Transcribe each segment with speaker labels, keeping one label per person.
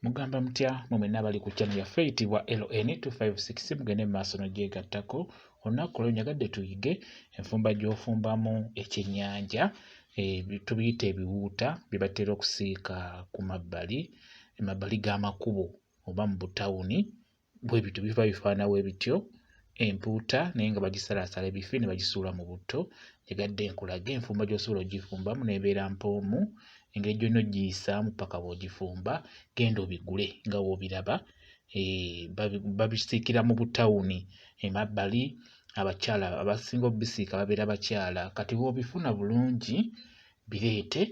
Speaker 1: Mugamba mutya mwe mwenna abali ku channel yaffe eyitibwa LN256 mugende mu maaso n'ogyegattako olunaku olwo nyagadde tuyige enfumba gy'ofumbamu ekyennyanja eh, tubiyita ebiwuuta bye batera okusiika ku mabbali emabbali g'amakubo oba mu butawuni bwe bityo biva bifaana bwe bityo empuuta naye nga bagisalaasala ebifi ne bagisuula mu butto egadde enkulaga enfumba gy'osobola ogifumbamu n'ebeera mpoomu engeri gyonna ogiyisaamu paka bw'ogifumba genda obigule nga w'obiraba eh, babisiikira mu butawuni emabbali abakyala abasinga obisiika babeera bakyala kati bw'obifuna bulungi bireete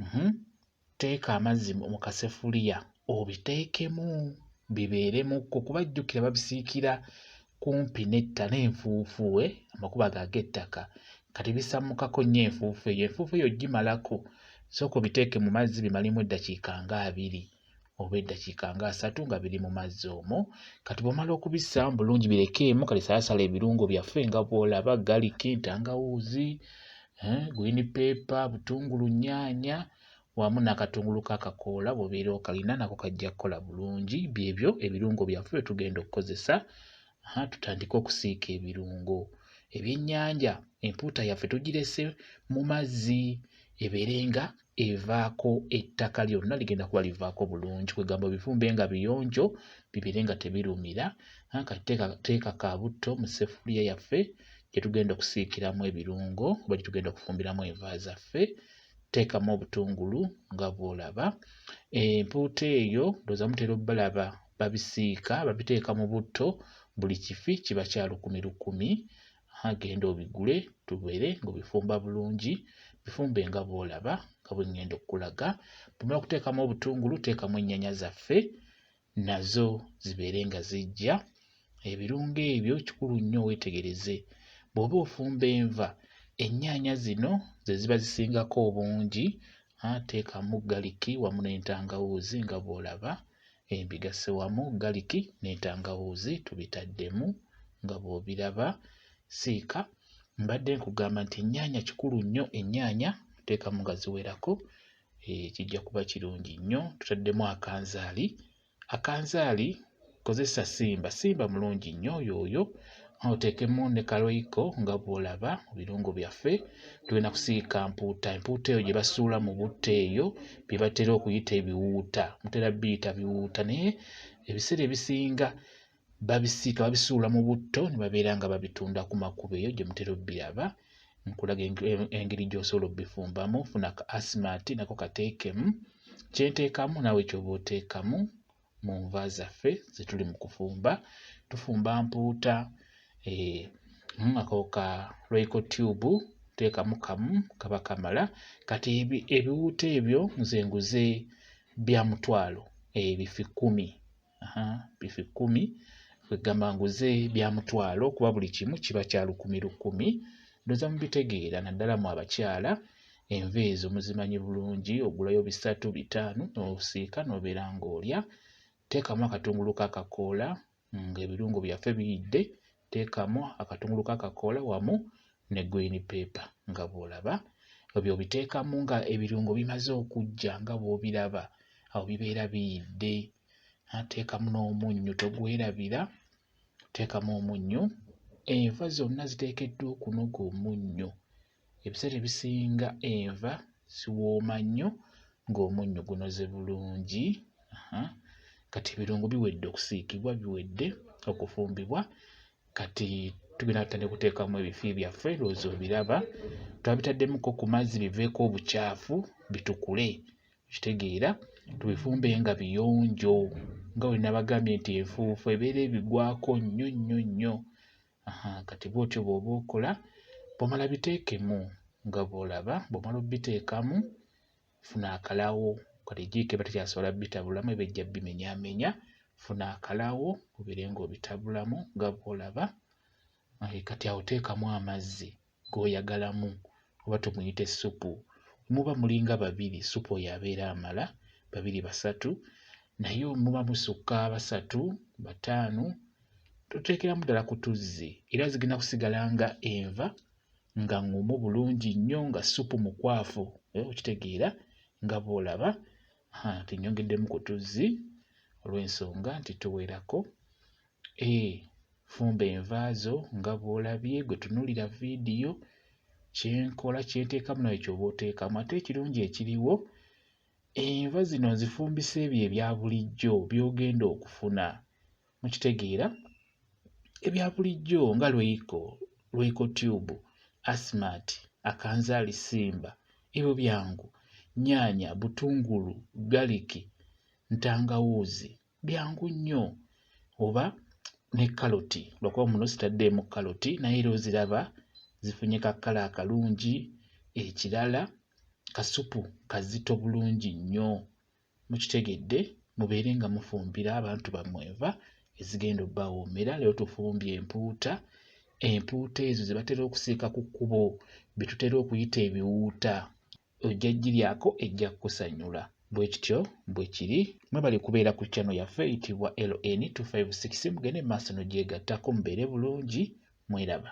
Speaker 1: Mhm. Teeka amazzi mu kasefuliya obiteekemu bibeeremuko kuba jjukira babisiikira kumpi netta n'enfuufu we eh, amakubo ago ag'ettaka kati bisammukako nnyo enfuufu eyo enfuufu eyo gimalako sooka obiteeke mu mazzi bimalemu eddakiika nga abiri oba eddakiika nga asatu nga biri mu mazzi omwo kati bwomala okubissa bulungi birekeemu kati salasala ebirungo byaffe nga bwolaba galiki ntangawuuzi eh, gwini peepa butungulu nyaanya wamu n'akatungulu kakakoola bwobeera okalina nako kajja kukola bulungi byebyo ebirungo byaffe byetugenda okukozesa tutandike okusiika ebirungo ebyennyanja empuuta yaffe tugirese mu mazzi ebeere nga evaako ettaka lyonna ligenda kuba livaako bulungi kwegamba obifumbe nga biyonjo bibeere nga tebirumira kati teeka ka butto mu ssefuliya yaffe gye tugenda okusiikiramu ebirungo oba gye tugenda okufumbiramu enva zaffe teekamu obutungulu nga bw'olaba empuuta eyo ndowooza mutera obalaba babisiika babiteeka mu butto buli kifi kiba kya lukumi lukumi agenda obigule tubeere ng'obifumba bulungi bifumbe nga bw'olaba nga bwe ŋŋenda okukulaga bwomala okuteekamu obutungulu teekamu ennyanya zaffe nazo zibeere nga zijja ebirungo ebyo kikulu nnyo weetegereze bw'oba ofumba enva ennyaanya zino ze ziba zisingako obungi teekamu galiki wamu n'entangawuuzi nga bw'olaba eh, mbigasse wamu galiki n'entangawuuzi tubitaddemu nga bw'obiraba siika mbadde nkugamba nti ennyaanya kikulu nnyo ennyaanya teekamu nga ziwerako eh, kijja kuba kirungi nnyo tutaddemu akanzaali akanzaali kozesa simba simba mulungi nnyo yooyo oteekemu ne kaloyiko nga bw'olaba mu birungo byaffe tulina kusiika mpuuta empuuta eyo gye basuula mu butta eyo bye batera okuyita ebiwuuta mutera biyita biwuuta naye ebiseera ebisinga babisiika babisuula mu butto ne babeera nga babitunda ku makubo eyo gye mutera obbiraba nkulaga engeri gy'osobola obbifumbamu funa ka asimati nako kateekemu kyenteekamu naawe kyoba oteekamu mu nva zaffe ze tuli mu kufumba tufumba mpuuta eh, mu ako ka royco tube teekamu kamu kaba kamala kati ebiwuuta ebyo nze nguze bya mutwalo eh, bifi kkumi bifi kkumi kwegamba nguze bya mutwalo kuba buli kimu kiba kya lukumi lukumi ndoza mubitegeera naddala mu abakyala Enva ezo muzimanyi bulungi, ogulayo bisatu bitaano n'osiika n'obeera ng'olya. Teekamu akatungulu k'akakoola ng'ebirungo byaffe biyidde, teekamu akatungulu k'akakoola wamu ne green paper nga bw'olaba. Ebyo obiteekamu nga ebirungo bimaze okujja nga bw'obiraba, awo bibeera biyidde. Teekamu n'omunnyo togwerabira, teekamu omunnyo. Enva zonna ziteekeddwa okunoga omunnyo. Ebiseera ebisinga enva ziwooma nnyo ng'omunnyo gunoze bulungi. Kati ebirungo biwedde okusiikibwa, biwedde okufumbibwa. Kati tugenda tutandika okuteekamu ebifi byaffe, lwoozi obiraba. Twabitaddemukko ku mazzi biveeko obucaafu bitukule, okitegeera. Tubifumbe nga biyonjo nga bwe nabagambye nti enfuufu ebeera ebigwako nnyo nnyo nnyo. Aha, kati bw'otyo bw'oba okola bw'omala biteekemu nga bw'olaba bw'omala obiteekamu funa akalawo kati jjiiko eba tekyasobola bitabulamu eba ejja bimenyamenya funa akalawo obeere ng'obitabulamu nga bw'olaba kati awo teekamu amazzi gwoyagalamu oba tumuyite supu muba mulinga babiri supu oyo abeera amala babiri basatu naye muba musukka basatu bataano toteekeramu ddala ku tuzzi era zigenda kusigala nga enva nga ngumu bulungi nnyo nga supu mukwafu eh, okitegeera nga bwolaba tinyongeddemu ku tuzzi olw'ensonga nti tuwerako A. Fumba enva zo nga bw'olabye gwe tunuulira vidiyo kye nkola kye nteekamu nawe ky'oba oteekamu ate ekirungi ekiriwo enva zino nzifumbisa ebyo ebya bulijjo by'ogenda okufuna mu kitegeera ebya bulijjo nga lweiko lweiko tube asmat akanzaali simba ebyo byangu nyaanya butungulu galiki ntangawuuzi byangu nnyo oba ne kaloti lwakuba muno sitaddeemu kaloti naye era oziraba zifunye ka kkala akalungi ekirala kasupu kazito bulungi nnyo mukitegedde mubeere nga mufumbira abantu bammwe enva ezigenda obbawoomera leero tufumbye empuuta empuuta ezo ze batera okusiika ku kkubo bye tutera okuyita ebiwuuta ojja giryako ejja kukusanyula bwe kityo bwe kiri mwebale kubeera ku channel yaffe eyitibwa ln256 mugende maaso nogyegattako mubeere bulungi mweraba